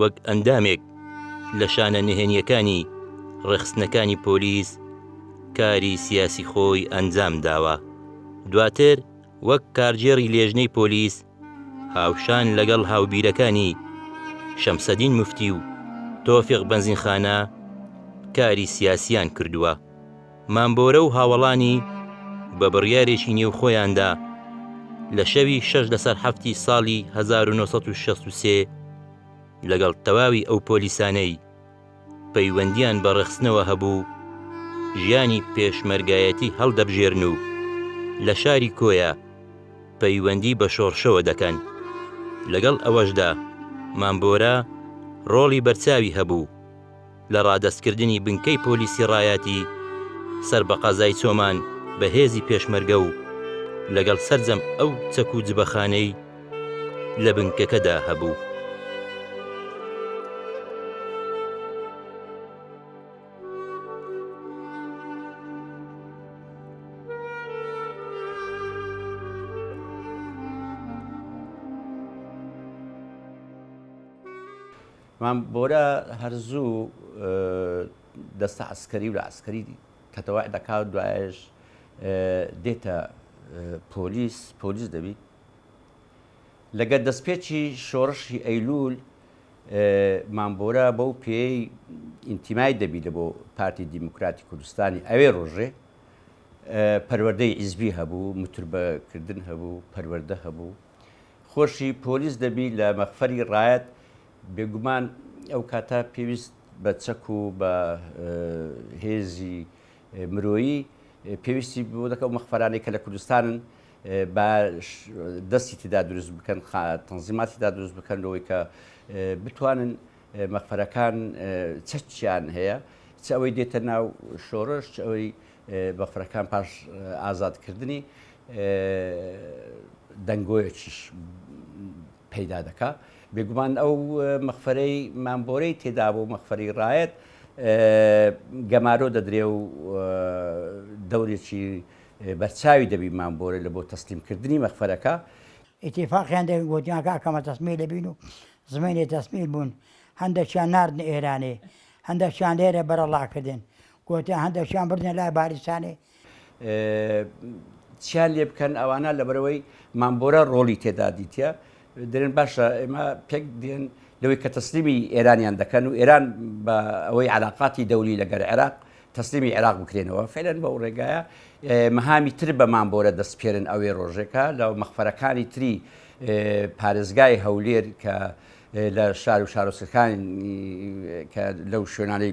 وەک ئەندامێک لە شانە نهێنیەکانی ڕێخستنەکانی پۆلیس کاری سیاسی خۆی ئەنجام داوە دواتر وەک کارگێڕی لێژنەی پۆلیس هاوشان لەگەڵ هاوبیرەکانی شەمسەدین مفتی و تۆفیق بەنزینخانە کاری سیاسیان کردووە. مامبۆرە و هاوەڵانی بە بڕیارێکی نێوخۆیاندا لە شەوی شەش لەسەر حەفتی ساڵی 1963 لەگەڵ تەواوی ئەو پۆلیسانەی پەیوەندیان بە ڕێخستنەوە هەبوو ژیانی پێشمەرگایەتی هەڵدەبژێرن و لە شاری کۆیە پەیوەندی بە شۆڕشەوە دەکەن لەگەڵ ئەوەشدا مامبۆرە ڕۆڵی بەرچاوی هەبوو لە ڕادەستکردنی بنکەی پۆلیسی ڕایاتی سەر بە قەزای چۆمان بە هێزی پێشمەرگە و لەگەڵ سەرجەم ئەو چەک و جبەخانەی لە بنکەکەدا هەبوو. مام بۆرە هەر زوو دەستە عەسکەری و لە عەسکەری تەتەوع دەکا و دوایەش دێتە پۆلیس پۆلیس دەبیت لەگەر دەستپێکی شۆڕشی ئەیلول مام بۆرە بەو پێی ئینتیمای دەبی لە بۆ پارتی دیموکراتی کوردستانی ئەوێ ڕۆژێ پەروەردەی ئیزبی هەبوو متربەکردن هەبوو پەروەەردە هەبوو خۆشی پۆلیس دەبی لە مەخفەری ڕایەت بێگومان ئەو کاتە پێویست بە چەک و بە هێزی مرۆیی پێویستی بۆ دەکە و مەخفەرانەی کە لە کوردستانن بە دەستی تدا دروست بکەن تەنزیماتی دا دروست بکەن لەوەی کە بتوانن مەخفەرەکان چەچیان هەیە چ ئەوەی دێتە ناو شۆڕش ئەوەی بەفرەکان پاش ئازادکردنی دەنگۆیەکیش پەیدا دەکا بێگومان ئەو مەخفەرەی مامبۆرەی تێدا بۆ مەخفەری ڕایەت گەمارۆ دەدرێ و دەورێکی بەرچاوی دەبی مامبۆرە لە بۆ تەسلیمکردنی مەخفەرەکە ئیتیفاقیان دێ گۆتیان کاک ئەمە تەسمیلە بین و زمەینێ تەسمیل بوون هەندەکیان ناردنە ئێرانێ هەندەکیان لێرە بەرەڵا کردن گۆتیان هەندەکیان بردنە لای بارزانی. چیان لێ بکەن ئەوانە لەبەرەوەی مامبۆرە ڕۆڵی تێدا دیتە دەێن باشە ئێمە پێک دێن لەوەی کە تەسلیمی ئێرانیان دەکەن و ئێران بە ئەوەی علااقاتی دەولی لەگەر عێراق تەسلیمی عێراق بکرێنەوە فعلەن بە و ڕێگایە مەهامی تر بە مامبۆرە دەستپێرن ئەوێ ڕۆژێکە لە مەخفەرەکانی تری پارێزگای هەولێر کە لە شار و شارۆسەکانی کە لەو شوێنانەی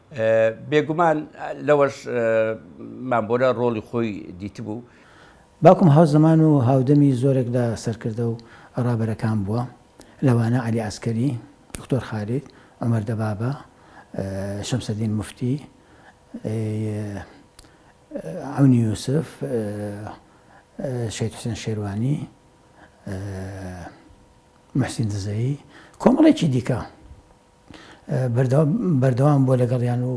بێگومان لەوەش مامبۆرە ڕۆڵی خۆی دیتبوو. باوکم هاوزەمان و هاودەمی زۆرێک لە سەرکردە و ڕابەرەکان بووە، لەوانە عەلی عەسکەری، دکتۆر خالید، عومەر دەبابە، شەمسەدین موفتی، ی عەونی یوسف، شەهید حوسێن شێروانی، موحسین دزەیی، کۆمەڵێکی دیکە. بەردەوام بووە لەگەڵیان و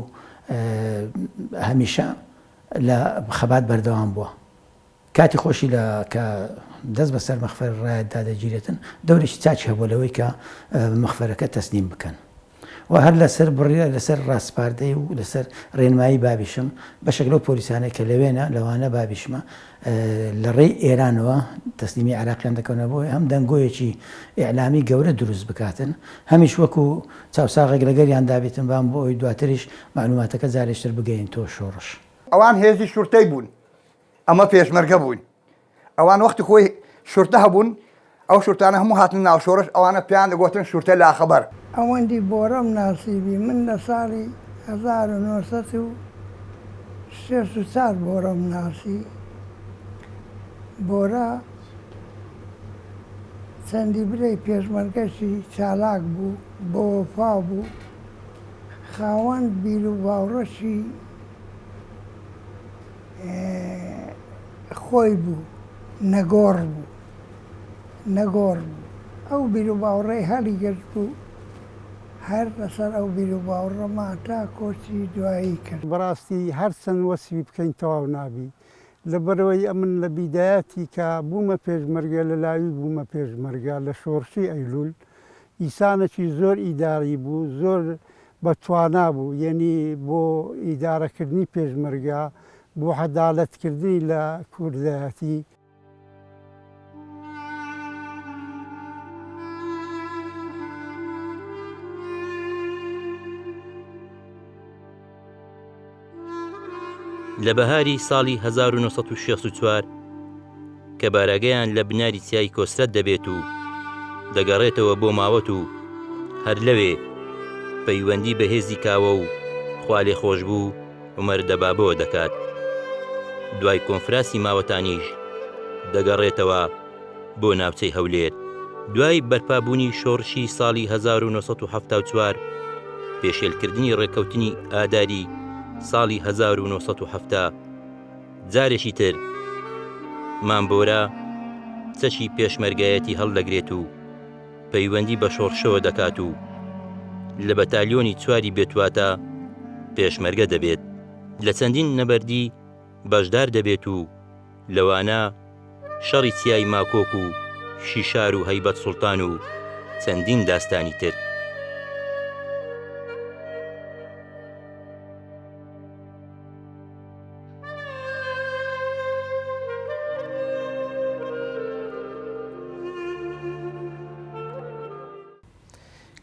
هەمیشە لە خەبات بەردەوام بووە. کاتی خۆشی لە کە دەست بەسەر مەخفەر ڕایەتدا دەگیرێتن، دەورێکی چاکی هەبووە لەوەی کە مەخفەرەکە تەسلیم بکەن و هەر لەسەر بڕیار لەسەر ڕاسپاردەی و لەسەر ڕێنمایی بابیشم بەشێک لەو پۆلیسانەی کە لەوێنە لەوانە بابیشمە لە ڕێی ئێرانەوە تەسلیمی عێراقیان دەکەونە بۆی هەم دەنگۆیەکی ئیعلامی گەورە دروست بکاتن هەمیش وەکو چاوساغێک لەگەریان دابێتن بان بۆ ئەوەی دواتریش مەعلوماتەکە جارێشتر بگەیەنتەوە شۆڕش. ئەوان هێزی شورتەی بوون ئەمە پێشمەرگە بووین ئەوان وەختی خۆی شورتە هەبوون ئەو شورتانە هەموو هاتنە ناو شۆرش ئەوانە پێیان دەگۆتن شورتە لاخبەر. ئەوەندی بۆرەم ناسیبی من لە ساڵی هەزار و نۆ سەد و شەست و چوار بۆرەم ناسی بۆرە چەندی برەی پێشمەرگەشی چالاک بوو بە وەفا بوو خاوەن بیر و باوڕەشی خۆی بوو نەگۆڕ بوو. نەگۆڕ بوو، ئەو بیروباوڕەی هەڵیگرت بوو، هەر لەسەر ئەو بیروباوڕەما تا کۆچی دوایی کرد. بەڕاستی هەر چەند وەسفی بکەین تەواو نابی، لەبەرئەوەی ئەمن لە بیدایەتی کە بوومە پێشمەرگە لە لاوی بوومە پێشمەرگە لە شۆڕشی ئەیلول، ئیسانەکی زۆر ئیداڕی بوو، زۆر بە توانا بوو، یەنی بۆ ئیداڕەکردنی پێشمەرگە، بۆ حەدالەت کردنی لە کوردایەتی، لە بەهاری ساڵی 1964 کە بارەگەیان لە بناری چیای کۆسرەت دەبێت و دەگەڕێتەوە بۆ ماوەت و هەر لەوێ پەیوەندی بەهێزی کاوە و خوالێ خۆش بوو عومەر دەبابەوە دەکات، دوای کۆنفراسی ماوەتانیش دەگەڕێتەوە بۆ ناوچەی هەولێر. دوای بەرپابوونی شۆڕشی ساڵی 1974 پێشێلکردنی ڕێککەوتنی ئاداری ساڵی 1970 جارێکی تر مامبۆرە چەکی پێشمەرگایەتی هەڵدەگرێت و پەیوەندی بە شۆڕشەوە دەکات و لە بەتالیۆنی چواری بێتواتە پێشمەرگە دەبێت لە چەندین نەبەردی بەشدار دەبێت و لەوانە شەڕی چیای ماکۆک و شیشار و هەیبەت سوڵتان و چەندین داستانی تر.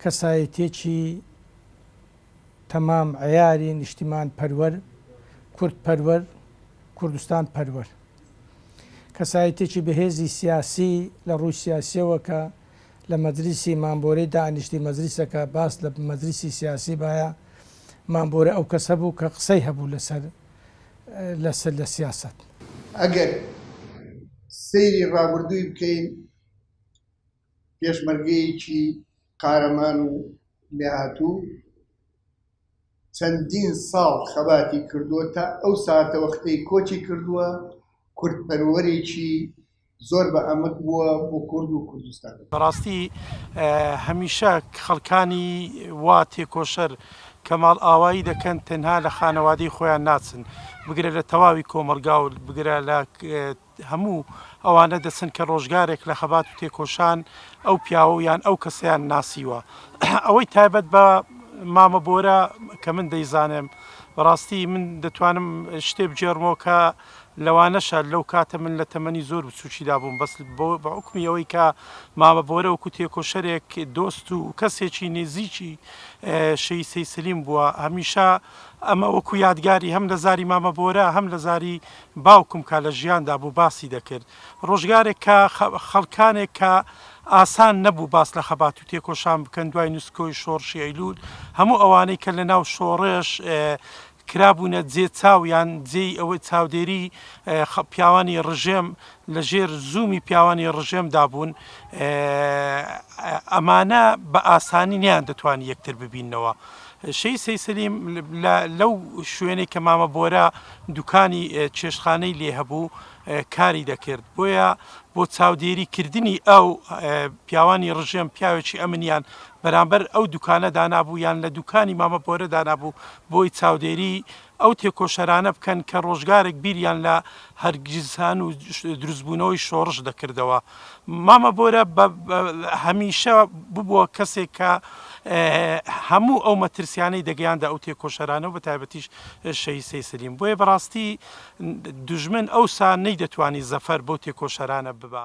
کەسایەتیەکی تەمام عیاری نیشتیمان پەروەر کورد پەروەر کوردستان پەروەر کەسایەتێکی بەهێزی سیاسی لە ڕووی سیاسیەوە کە لە مەدرسی مامبۆرەی دانیشتی مەزریسەکە باس لە مەدرسی سیاسی باە مامبۆرە ئەو کەسە بوو کە قسەی هەبوو لەسەر لەسەر لە سیاسەت. ئەگەر سەیری ڕابردووی بکەین پێشمەرگەیەکی قارەمان و لێهاتوو چەندین ساڵ خەباتی کردووە تا ئەو ساتە وەختەی کۆچی کردووە کوردپەروەرێکی زۆر بە ئەمک بووە بۆ کورد و کوردستان. بەڕاستی هەمیشە خەڵکانی وا تێکۆشەر کەماڵ ئاوایی دەکەن تەنها لە خانەوادەی خۆیان ناچن بگرە لە تەواوی کۆمەلگا و بگرە لە هەموو ئەوانە دەچن کە ڕۆژگارێک لە خەبات و تێکۆشان ئەو پیاوە و یان ئەو کەسیان ناسیوە ئەوەی تایبەت بە مامە بۆرە کە من دەیزانم بەڕاستی من دەتوانم شتێ بگێڕمەوە کە لەوانەشە لەو کاتە من لە تەمەنی زۆر بچووکیدا بووم، بەس بە حوکمی ئەوەی کە مامە بۆرە وەکوو تێکۆشەرێک دۆست و کەسێکی نێزیکی شەهید سەید سەلیم بووە، هەمیشە ئەمە وەکوو یادگاری هەم لە زاری مامە بۆرە هەم لە زاری باوکم کە لە ژیاندا بوو باسی دەکرد. ڕۆژگارێک کە خەڵکانێک کە ئاسان نەبوو باس لە خەبات و تێکۆشان بکەن دوای نسکۆی شۆڕشی ئەیلوول، هەموو ئەوانەی کە لە ناو شۆڕش کرابوونە جێ چاو یان جێی ئەوەی چاودێری پیاوانی ڕژێم لە ژێر زوومی پیاوانی ڕژێمدا بوون ئەمانە بە ئاسانی نیان دەتوان یەکتر ببینەوە شەی سەیسەلیم لەو شوێنێک کە مامە بۆرە دوکانی چێشخانەی لێ هەبوو کاری دەکرد بۆیە بۆ چاودێری کردنی ئەو پیاوانی ڕژێم پیاوێکی ئەمنیان بەرامبەر ئەو دوکانە دانابوو یان لە دوکانی مامە بۆرە دانابوو بۆی چاودێری ئەو تێکۆشەرانە بکەن کە ڕۆژگارێک بیریان لە هەرگیزهان و دروستبوونەوەی شۆڕش دەکردەوە مامە بۆرە بە هەمیشە ببووە کەسێک کە هەموو ئەو مەترسیانەی دەگەیاندە ئەو تێکۆشەرانە و بە تایبەتیش شەی سەیسلیم بۆیە بەڕاستی دژمن ئەوسا نەی دەتوانی زەفەر بۆ تێکۆشەرانە ببە.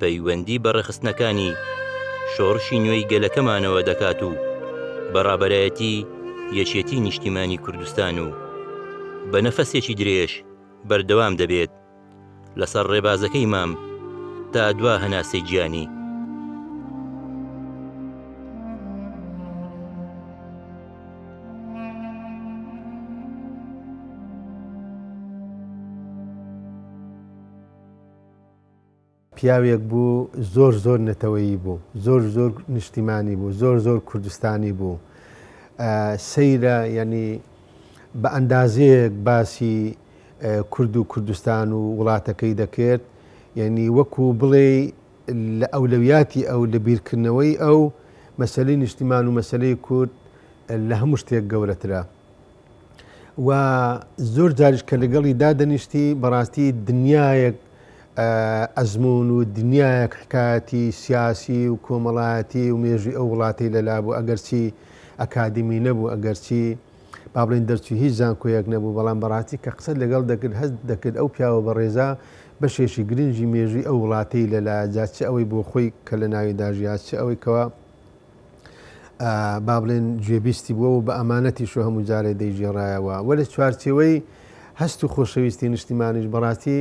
پەیوەندی بە ڕێکخستنەکانی شۆڕشی نوێی گەلەکەمانەوە دەکات و بە ڕابەرایەتی یەکێتی نیشتیمانی کوردستان و بە نەفەسێکی درێژ بەردەوام دەبێت لەسەر ڕێبازەکەی مام تا دوا هەناسەی گیانی. پیاوێک بوو زۆر زۆر نەتەوەیی بوو، زۆر زۆر نیشتیمانی بوو، زۆر زۆر کوردستانی بوو. سەیرە یەنی بە ئەندازەیەک باسی کورد و کوردستان و وڵاتەکەی دەکرد، یەنی وەکو بڵێی لە ئەولەویاتی ئەو لە بیرکردنەوەی ئەو مەسەلەی نیشتیمان و مەسەلەی کورد لە هەموو شتێک گەورەترە. و زۆر جاریش کە لەگەڵی دادەنیشتی بەڕاستی دنیایەک ئەزمون و دنیایەک حکایەتی سیاسی و کۆمەڵایەتی و مێژوی ئەو وڵاتی لەلا بوو ئەگەرچی ئەکادمی نەبوو ئەگەرچی با بڵین دەرچوی هیچ زانکۆیەک نەبوو بەڵام بەڕاستی کە قسە لەگەڵ دەکرد هەست دەکرد ئەو پیاوە بەڕێزە بەشێکی گرنگی مێژوی ئەو وڵاتی لەلا جا چ ئەوەی بۆ خۆی کە لە ناویدا ژیا چ ئەوەی کەوا با بڵێن گوێبیستی بووە و بە ئەمانەتیش و هەموو جارێ دەیگێڕایەوە وە لە چوارچێوەی هەست و خۆشەویستی نیشتیمانیش بەڕاستی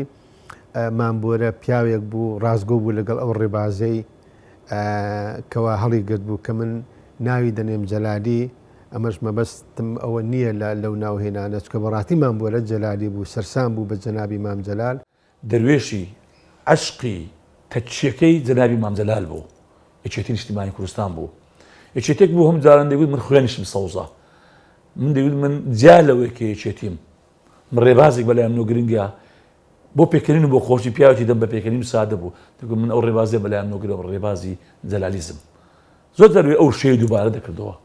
مامبۆرە پیاوێک بوو ڕاستگۆ بوو لەگەڵ ئەو ڕێبازەی کەوا هەڵی گرت بوو کە من ناوی دەنێم جەلالی ئەمەش مەبەستم ئەوە نییە لە لەو ناوهێنانە چکە بەڕاتیمان بۆ لە جەلالی بوو سەرسان بوو بە جەنابی مام جەلال دەروێشی عەشقی تەکیەکەی جەنابی مام جەلال بوو یەکێتی نیشتیمانی کوردستان بوو یەکێتێک بوو هەموو جاران دەیگوت من خوێنیشم سەوزە من دەیگوت من جیا لەوەی کە یەکێتیم من ڕێبازێک بەلایم نۆ گرنگە بۆ پێکەنین و بۆ خۆشی پیاوێکی دەم بە پێکەنین و سادە بوو دەگوت من ئەو ڕێبازیە بەلایان نۆگرەوە ڕێبازی جەلالیزم زۆر جار وێ ئەو شێی دووبارە دەکردەوە.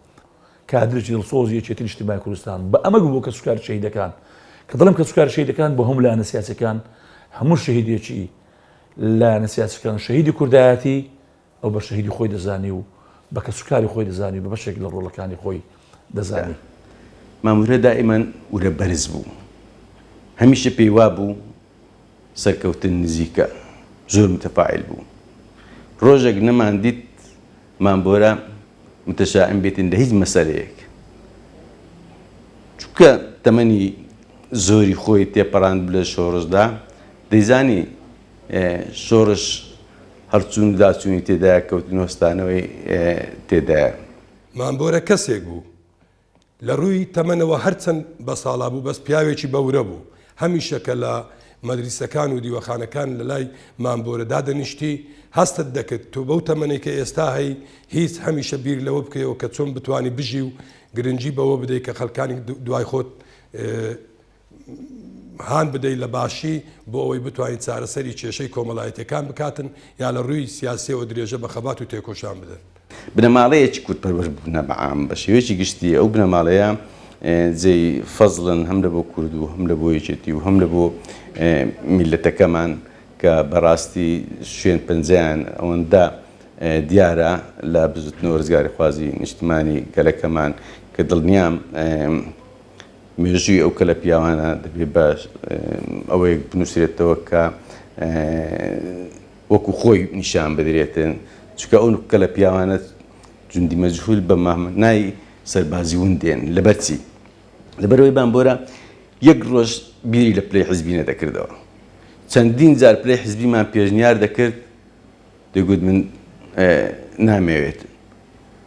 کادرێکی دڵسۆزی یەکێتی نیشتیمای کوردستان بە ئەمەگ بۆ کەسوکاری شەهیدەکان، کە دەڵێم کەسوکاری شەهیدەکان بۆ هەموو لایەنە سیاسیەکان، هەموو شەهیدێکی لایەنە سیاسیەکان شەهیدی کوردایەتی، ئەو بە شەهیدی خۆی دەزانی و بە کەسوکاری خۆی دەزانی و بە بەشێک لە ڕۆڵەکانی خۆی دەزانی. مام ورە دائیمەن ورە بەرز بوو. هەمیشە پێی وابوو، سەرکەوتن نزیکە زۆر متفاعیل بوو ڕۆژێک نەمان دیت مام بۆرە متشائم بێتین لە هیچ مەسەلەیەک چونکە تەمەنی زۆری خۆی تێپەڕاند لە شۆڕشدا دەیزانی شۆڕش هەرچوون داچوونی تێدایە کەوتن هۆستانەوەی تێدایە. مام بۆرە کەسێک بوو لە رووی تەمەنەوە هەرچەند بەساڵا بوو بەس پیاوێکی بەورە بوو، هەمیشە کە لە مەدریسەکان و دیوەخانەکان لە لای مامبۆرە دادەنیشتی هەستت دەکرد تۆ بەو تەمەنەی کە ئێستا هەی هیچ هەمیشە بیر لەوە بکەیەوە کە چۆن بتوانی بژی و گرنگی بەوە بدەی کە خەلکانی دوای خۆت هان بدەیت لە باشی بۆ ئەوەی بتوانین چارەسەری کێشەی کۆمەڵایەتەکان بکاتن یا لە ڕووی سیاسیەوە درێژە بە خەبات و تێکۆشان بدەن. بنەماڵەیەکی کورد پەروەر بوونە بە عام بە شێوەیەکی گشتی ئەو بنەماڵەیە جێی فەزڵن هەم لە بۆ کورد و هەم لە بۆ یەکێتی و هەم لە بۆ میلەتەکەمان کە بەڕاستی شوێن پەنجەیان ئەوەندە دیارە لە بزوتنەوە ڕزگاری خوازی نیشتمانی گەلەکەمان کە دڵنیام مێژووی ئەو کەلە پیاوانە دەبێ بە ئەوەیەک بنووسرێتەوە کە وەکو خۆی نیشان بدرێتن چکە ئەو کەلە پیاوانە جوندی مەجهول بە مامنای سەربازی ون دێن لەبەرچی لەبەرەوەی بامبۆرە یەک ڕۆژ بیری لە پلەی حزبینە دەکردەوە چەندین جار پلەی حزبیمان پێشنیار دەکرد دەگوت من نامەوێت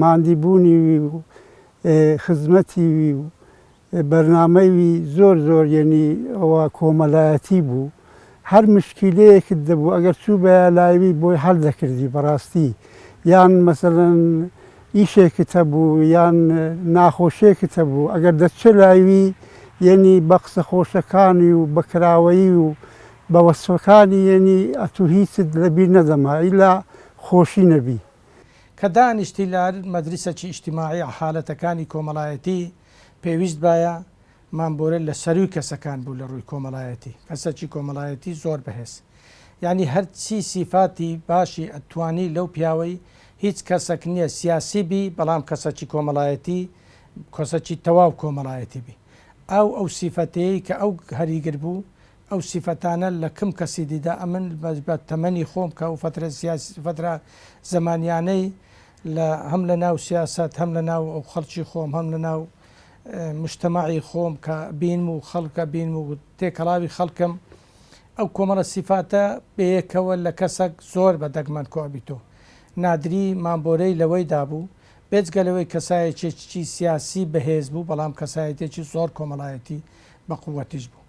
ماندی بوونی وی و خزمەتی وی و بەرنامەی وی زۆر زۆر یەنی ئەوە کۆمەلایەتی بوو هەر مشکیلەیەکت دەبوو ئەگەر چوو بەیە لای وی بۆی هەل دەکردی بەڕاستی یان مەسەلەن ئیشێکت هەبوو یان ناخۆشێکت هەبوو ئەگەر دەتچێ لای وی یەنی بە قسە خۆشەکانی و بە کراوەیی و بە وەسفەکانی یەنی ئەتوو هیچت لە بیر نەدەما ئیلا خۆشی نەبی. کە دانیشتی لار مەدرسەکی ئیجتماعی حالەتەکانی کۆمەڵایەتی پێویست بایە مام بۆرێ لە سەروی کەسەکان بوو لە ڕووی کۆمەڵایەتی کەسەکی کۆمەڵایەتی زۆر بەهێز یانی هەر چی سیفاتی باشی ئەتوانی لەو پیاوەی هیچ کەسەک نیە سیاسی بی بەڵام کەسەکی کۆمەڵایەتی کەسەکی تەواو کۆمەڵایەتی بی ئاو ئەو سیفەتەیەی کە ئەو هەریگر بوو ئەو سیفەتانە لە کم کەسی دیدا ئەمن بە تەمەنی خۆم کە ئەو فترە سیاسی فترە زەمانیانەی لە هەم لە ناو سیاسەت هەم لە ناو ئەو خەڵکی خۆم هەم لە ناو مشتەمەعی خۆم کە بینم و خەڵکە بینم و تێکەڵاوی خەڵکم ئەو کۆمەڵە سیفاتە بەیەکەوە لە کەسەک زۆر بە دەگمەن کۆبیتۆ نادری مامبۆرەی لەوەی دابوو بێجگە لەوەی کەسایەکێکی سیاسی بەهێز بوو بەڵام کەسایەتێکی زۆر کۆمەڵایەتی بە قووەتیش بوو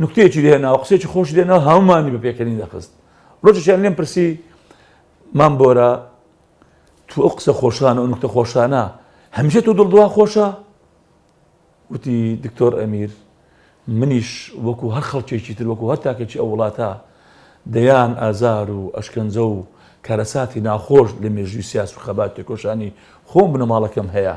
نوکتەیەکی لێهێناوە قسەیەکی خۆشی لێناوە هەموومانی بە پێکەنین دەخست ڕۆژێکیان لێم پرسی مام بۆرە تو ئەو قسە خۆشانە و نوکتە خۆشانە هەمیشە تۆ دڵدووا خۆشە وتی دکتۆر ئەمیر منیش وەکو هەر خەڵکێکی تر وەکو هەر تاکێکی ئەو وڵاتە دەیان ئازار و ئەشکەنجە و کارەساتی ناخۆش لە مێژووی سیاس و خەبات تێکۆشانی خۆم بنەماڵەکەم هەیە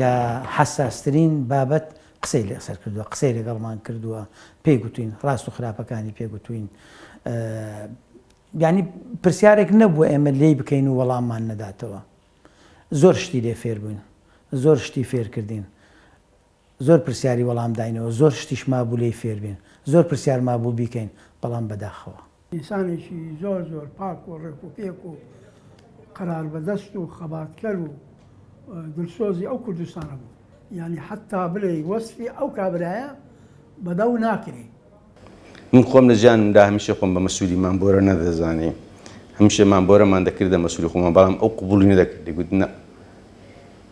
لە حەساسترین بابەت قسەی لەسەر کردووە، قسەی لەگەڵمان کردووە، پێی گوتووین، ڕاست و خراپەکانی پێ گوتووین. یانی پرسیارێک نەبووە ئێمە لێی بکەین و وەڵاممان نەداتەوە. زۆر شتی لێ فێر بووین، زۆر شتی فێر کردین. زۆر پرسیاری وەڵام داینەوە، زۆر شتیش مابوو لێی فێر بین، زۆر پرسیار مابوو بیکەین، بەڵام بەداخەوە. ئینسانێکی زۆر زۆر پاک و ڕێک و پێک و قەراربەدەست و خەباتکەر و دلسۆزی ئەو کوردستانە بوو. یانی حەتتا بلێی وەسفی ئەو کابرایە بەدەو ناکرێ. من خۆم لە ژیانمدا هەمیشە خۆم بە مەسولی مام بۆرە نەدەزانی. هەمیشە مام بۆرەمان دەکردە مەسولی خۆمان بەڵام ئەو قبوڵی نەدەکرد دەگوت نا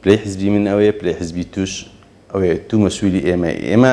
پلەی حزبی من ئەوەیە پلەی حزبی توش ئەوەیە تو مەسولی ئێمەی. ئێمە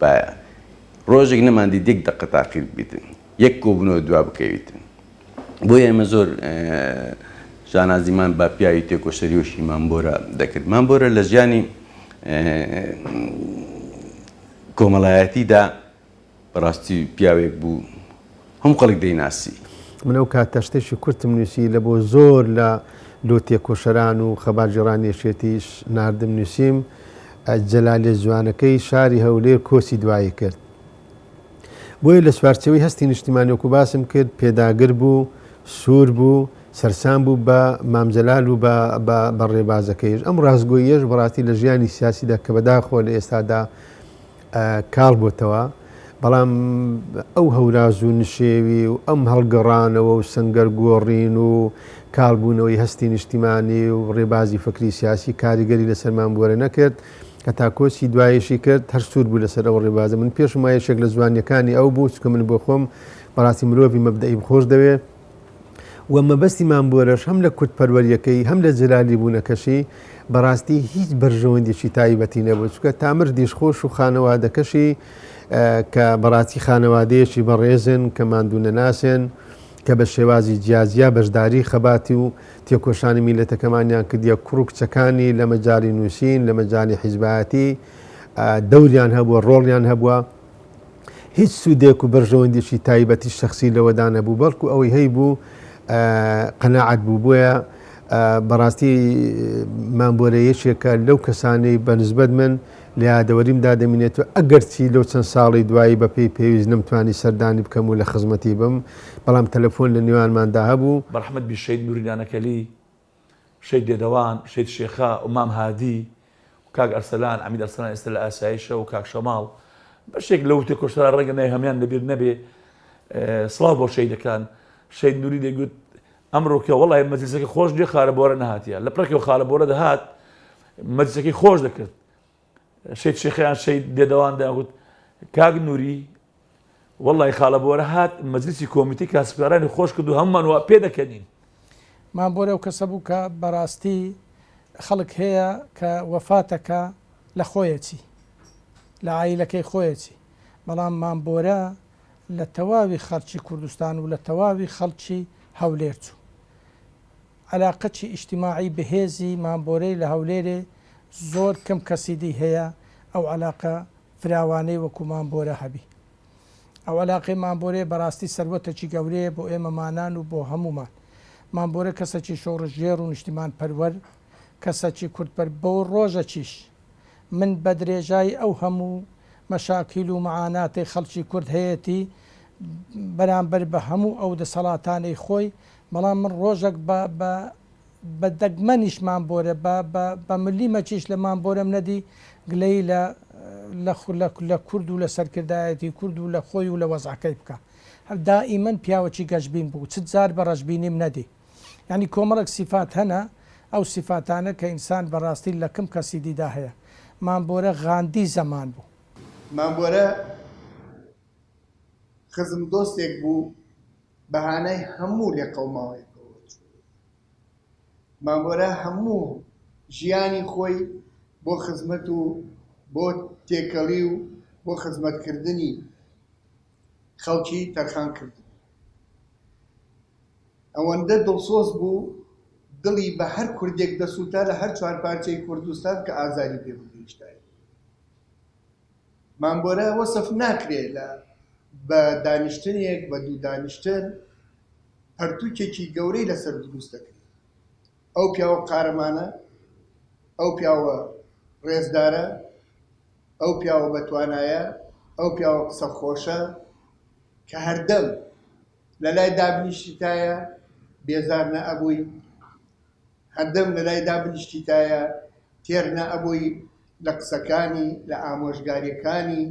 بایە ڕۆژێک نەماندیت یەک دەقە تاقی بکەیت یەک کۆبوونەوە دوا بکەویت بۆیە ئێمە زۆر شانازیمان بە پیاوی تێکۆشەریۆشی مامبۆرە دەکرد مامبۆرە لە ژیانی کۆمەڵایەتیدا بەڕاستی پیاوێک بوو هەموو خەڵک دەیناسی. من ئەو کات تەشتێکی کورتم نووسی لە بۆ زۆر لە لۆ تێکۆشەران و خەباتگێڕانی یەکێتیش ناردم نووسیم جەلالێ جوانەکەی شاری هەولێر کۆچی دوایی کرد بۆیە لە چوارچەوەی هەستی نیشتیمانیۆکو باسم کرد پێداگر بوو سوور بوو سەرسان بوو بە مامجلال و بە ڕێبازەکەیش ئەم ڕاستگۆیەش بەڕاستی لە ژیانی سیاسیدا کە بەداخۆ لە ئێستادا کاڵ بۆتەوە، بەڵام ئەو هەوراز و نشێوی و ئەم هەڵگەڕانەوە و سەنگەر گۆڕین و کاڵ بوونەوەی هەستی نیشتیمانی و ڕێبازی فەکری سیاسی کاریگەری لەسەر مام بۆرە نەکرد، هەتا کۆچی دوایشی کرد هەر سوور بوو لەسەر ئەو ڕێبازە، من پێشم وایە یەکێک لە جوانیەکانی ئەو بوو، چونکە من بۆ خۆم بەڕاستی مرۆڤی مەبدەئیم خۆش دەوێ، و مەبەستی مام بۆرەش هەم لە کوردپەروەریەکەی هەم لە جەلالی بوونەکەشی بەڕاستی هیچ بەرژەوەندێکی تایبەتی نەبوو چونکە تا مردیش خۆش و خانەوادەکەشی کە بەڕاستی خانەوادەیەکی بەڕێزن کە ماندوو نەناسێن کە بە شێوازی جیازیا بەشداری خەباتی و تێکۆشانی میلەتەکەمانیان کردیە کوڕ و کچەکانی لە مەجای نووسین لە مەجای حیزبایەتی دەوریان هەبووە ڕۆڵیان هەبووە هیچ سوودێک و بەرژەوەندیشی تایبەتی شخصی لەوەدا نەبوو بەڵکو ئەوەی هەی بوو قەنەعات بوو بۆیە بەڕاستی مامبۆرە یەکێکە لەو کەسانەی بەنسبەت من لە یادەوەریم دادەمینێت و ئەگەرچی لەو چەند ساڵی دوایی بەپی پێویست نەمتوانی سەردانی بکەم و لە خزمەتی بم بەڵام تەلەفۆن لە نێوانماندا هەبوو بەرحمەت بی شەید نوری نانەکەلی شەید دێدەوان، شەید شێخا و مام هادی و کاک ئەرسەلان، عەمید ئەرسەلان ئێستە لە ئاسایشە و کاک شەماڵ بەشێک لەو تێکۆشەران ڕەنگە ناوی هەموان لە بیر نەبێ سڵاو بۆ شەیدەکان شەید نوری دەگوت ئەمڕۆکە وەڵای مەجلسەکە خۆش نیە خارە بۆرە نەهاتیە لە پڕێکەوە خارە بۆرە دەهات مەجلسەکەی خۆش دەکرد شێت شێخ یان شێت دێدەوان دەیانگوت کاک نوری وەڵی خاڵە بۆرە هات مەجلسی کۆمیتی کاسبکارانی خۆش کرد و هەمومان وا پێ دەکەنین مام بۆرە و کەسە بوو کە بەڕاستی خەڵک هەیە کە وەفاتەکە لە خۆیەتی لە عیلەکەی خۆیەتی بەڵام مام بۆرە لە تەواوی خەڵکی کوردستان و لە تەواوی خەڵکی هەولێر چوو عەلاقەچی ئیجتیماعی بەهێزی مانبۆرەی لە هەولێرێ زۆر کەم کەسی دی هەیە ئەو عەلاقە فراوانەی وەکوو مانبۆرە هەبی. ئەو عەلاقەی مانبۆرەیە بەڕاستی سەروەتەکی گەورەیە بۆ ئێمەمانان و بۆ هەموومان. مانبۆرە کەسەکی شۆڕشگێڕ و نیشتیمانپەروەر، کەسەکی کوردپەر بۆ ڕۆژەکیش من بە درێژای ئەو هەموو مەشاکیل و مەعاناتەی خەڵکی کورد هەیەتی بەرانبەر بە هەموو ئەو دەسەڵاتانەی خۆی بەڵام من ڕۆژەک بە بە بە دەگمەنیش مامبۆرە بە بە بە ملی مەچیش لە مامبۆرەم نەدی گلەیی لە لە خو لە لە کورد و لە سەرکردایەتی کورد و لە خۆی و لە وەزعەکەی بکا هەر دائیمەن پیاوەکی گەشبین بوو چ جار بە ڕەشبینیم نەدی یانی کۆمەڵەک سیفات هەنە ئەو سیفاتانە کە ئینسان بە ڕاستی لە کم کەسی دیدا هەیە مامبۆرە غاندی زەمان بوو. مامبۆرە خزم دۆستێک بوو بەهانای هەموو لێقەوماوەیەکەوە چوو. مامۆرا هەموو ژیانی خۆی بۆ خزمەت و بۆ تێکەڵی و بۆ خزمەتکردنی خەڵکی تەرخان کردبوو. ئەوەندە دڵسۆز بوو دڵی بە هەر کوردێک دەسووتا لە هەر چوار پارچەی کوردستان کە ئازاری پێ بگەیشتایە. مامبۆرە وەسف ناکرێ لە بە دانیشتنێک بە دوو دانیشتن پەرتوکێکی گەورەی لەسەر دروست دەکرێ ئەو پیاوە قارەمانە ئەو پیاوە ڕێزدارە ئەو پیاوە بەتوانایە ئەو پیاوە قسە خۆشە کە هەردەم لە لای دابنیشتایە بێزار نە ئەبووی هەردەم لە لای دابنیشتیتایە تێر نە ئەبووی لە قسەکانی، لە ئامۆژگاریەکانی،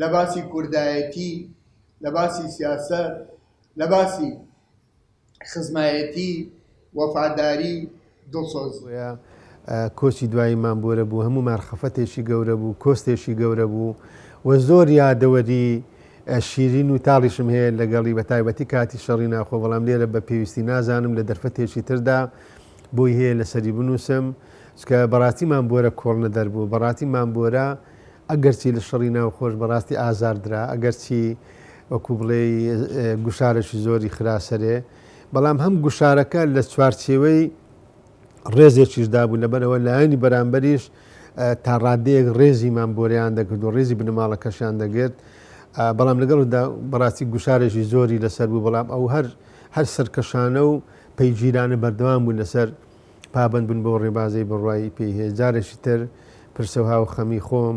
لە باسی کوردایەتی، لە باسی سیاسەت، لە باسی خزمایەتی، وەفاداری، دڵسۆزی. بۆیە کۆچی دوایی مام بۆرە بۆ هەموومان خەفەتێکی گەورە بوو، کۆستێکی گەورە بوو و زۆر یادەوەری شیرین و تاڵیشم هەیە لەگەڵی بە تایبەتی کاتی شەڕی ناخۆ بەڵام لێرە بە پێویستی نازانم لە دەرفەتێکی تردا بۆی هەیە لەسەری بنووسم چکە بەڕاستی مام بۆرە کۆڵنە دەربوو بەڕاستی مام بۆرە ئەگەرچی لە شەڕی ناو خۆش بەڕاستی ئازاردرا ئەگەرچی وەکو بڵێ گوشارەشی زۆری خراسەرێ بەڵام هەم گوشارەکە لە چوارچێوەی ڕێزێکیش دابوو لەبەرەوە لایەنی بەرامبەریش تا ڕادەیەک ڕێزیمان بۆریان دەکرد و ڕێزی بنەماڵەکەشیان دەگرت بەڵام لەگەڵدا بەڕاستی گوشارێکی زۆری لەسەر بوو بەڵام ئەو هەر هەر سەرکەشانە و پەیگیرانە بەردەوام بوون لەسەر پابند بن بۆ ڕێبازی بڕوای پێی هەیە جارێکی تر پرسەها و خەمی خۆم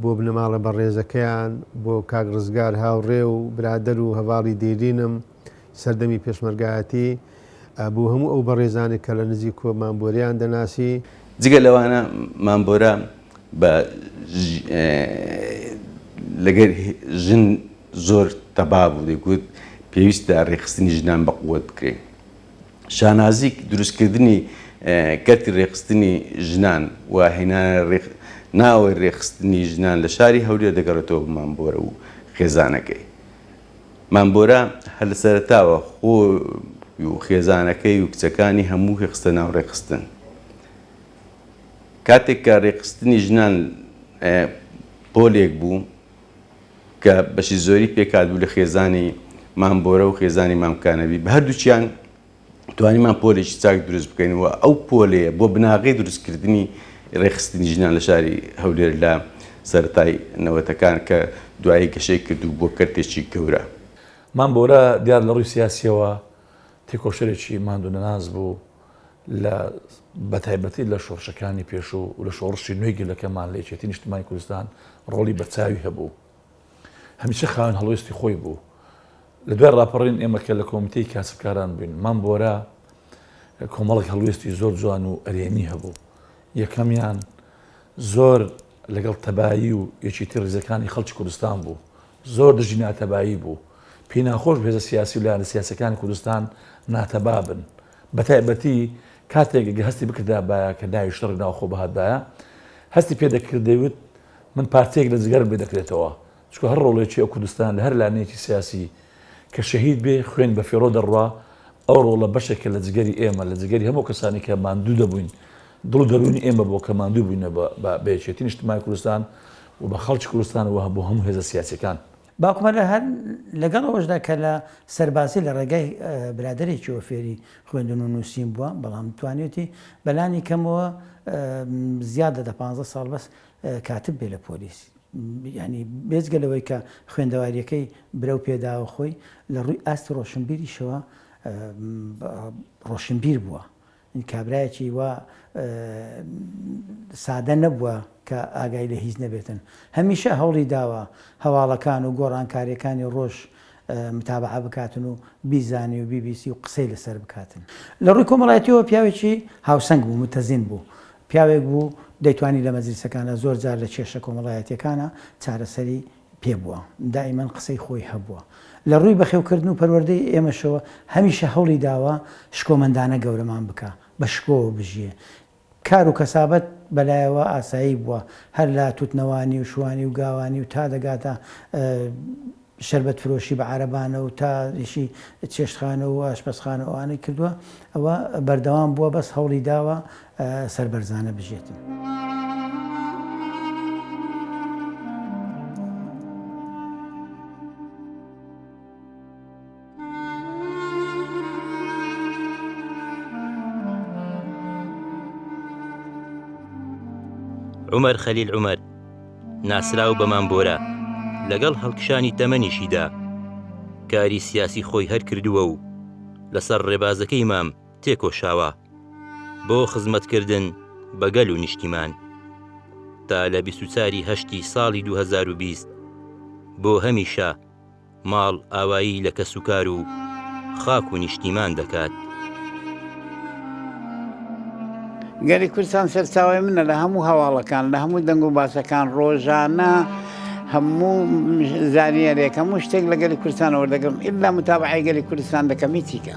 بۆ بنەماڵە بەڕێزەکەیان بۆ کاک ڕزگار هاوڕێ و برادەر و هەواڵی دێرینم سەردەمی پێشمەرگایەتی بۆ هەموو ئەو بەڕێزانێک کە لە نزیک کۆ مامبۆریان دەناسی. جگە لەوانە مامبۆرە بە لەگەر ژن زۆر تەبا بوو دەیگوت پێویستە ڕێکخستنی ژنان بە قوت بکرێن شانازیک دروستکردنی کەرتی ڕێکخستنی ژنان و هێنانە ناوەی ڕێکخستنی ژنان لە شاری هەولێر دەگەڕێتەوە بە مامبۆرە و خێزانەکەی مام بۆرە هەر لە سەرەتاوە خۆی و خێزانەکەی و کچەکانی هەمووی خستە ناو ڕێکخستن. کاتێک کە ڕێکخستنی ژنان پۆلێک بوو کە بەشی زۆری پێکهاتبوو لە خێزانی مام بۆرە و خێزانی مام کانەبی، بە هەردووکیان توانیمان پۆلێکی چاک دروست بکەین و ئەو پۆلەیە بۆ بناغەی دروستکردنی ڕێکخستنی ژنان لە شاری هەولێر لە سەرەتای نەوەتەکان کە دوایی گەشەی کرد و بووە کەرتێکی گەورە. مام بۆرە دیار لە ڕووی سیاسییەوە تێکۆشەرێکی ماندوونەناس بوو لە بە تایبەتی لە شۆڕشەکانی پێشوو و لە شۆڕشی نوێی گەلەکەمان لە یەکێتی نیشتمانی کوردستان ڕۆڵی بەرچاوی هەبوو. هەمیشە خاوەن هەڵوێستی خۆی بوو. لە دوای ڕاپەڕین ئێمە کە لە کۆمیتەی کاسبکاران بووین، مام بۆرا کۆمەڵێک هەڵوێستی زۆر جوان و ئەرێنی هەبوو. یەکەمیان زۆر لەگەڵ تەبایی و یەکێتی ڕیزەکانی خەڵکی کوردستان بوو. زۆر دژی ناتەبایی بوو. پێی ناخۆش بوو هێزە سیاسی و لایەنە سیاسییەکانی کوردستان ناتەبا بن. بەتایبەتی کاتێک ئەگەر هەستی بکردابایە کە ناوی شەڕی ناوخۆ بهاتبایە، هەستی پێ دەکرد دەیوت، من پارچەیەک لە جگەرم لێ دەکرێتەوە، چونکە هەر ڕۆڵێکی ئەو کوردستان لە هەر لانەیەکی سیاسی کە شەهید بێ، خوێن بە فیڕۆ دەڕوا، ئەو ڕۆڵە بەشێکە لە جگەری ئێمە، لە جگەری هەموو کەسانی کە ماندوو دەبووین، دڵ و دەروونی ئێمە بووە کە ماندوو بووینە بە یەکێتی نیشتمانی کوردستان و بە خەڵکی کوردستان و بۆ هەموو هێزە سیاسییەکان. باوکمە لە هەر لەگەڵ ئەوەشدا کە لە سەربازی لە ڕێگای برادەرێکیەوە فێری خوێندن و نووسین بووە بەڵام توانیوتی بەلانی کەمەوە زیادە دە پانزە ساڵ بەس کاتب بێ لە پۆلیس ینی بێزگە لەوەی کە خوێندەواریەکەی برەو پێداوە خۆی لە ڕووی ئاستی ڕۆشنبیریشەوە ڕۆشنبیر بووە کابرایەکی وا سادە نەبووە کە ئاگای لە هیچ نەبێتن. هەمیشە هەوڵی داوە هەواڵەکان و گۆڕانکارییەکانی ڕۆژ متابعە بکاتن و بیزانی و بیبیسی و قسەی لەسەر بکاتن. لە ڕووی کۆمەڵایەتییەوە پیاوێکی هاوسەنگ بوو، متەزین بوو. پیاوێک بوو دەیتوانی لە مەجلیسەکاندا زۆر جار لە کێشە کۆمەڵایەتییەکانە چارەسەری پێ بووە، دایمەن قسەی خۆی هەبووە. لە ڕووی بەخێوکردن و پەروەردەی ئێمەشەوە هەمیشە هەوڵی داوە شکۆمەندانە گەورەمان بکا، بە شکۆوە بژیێ. کار و کەسابەت بە لایەوە ئاسایی بووە، هەر لە توتنەوانی و شوانی و گاوانی و تا دەگاتە شەربەت فرۆشی بە عارەبانە و تا ئیشی چێشتخانە و ئاشپەزخانە و ئەوانەی کردووە، ئەوە بەردەوام بووە بەس هەوڵی داوە سەربەرزانە بژێتن. عومەر خەلیل عومەر ناسراو بە مامبۆرە لەگەڵ هەڵکشانی تەمەنیشیدا کاری سیاسی خۆی هەرکردووە و لەسەر ڕێبازەکەی مام تێکۆشاوە بۆ خزمەتکردن بە گەل و نیشتیمان تا لە بیست و چوار ی هەشتی ساڵی دوو هەزار و بیست بۆ هەمیشە ماڵ ئاوایی لە کەسوکار و خاک و نیشتیمان دەکات. گەلی کوردستان سەرچاوی منە لە هەموو هەواڵەکان لە هەموو دەنگ و باسەکان ڕۆژانە هەموو زانیارێک هەموو شتێک لە گەلی کوردستان وەردەگرم ئللا متابعی گەلی کوردستان دەکەم هیچیکە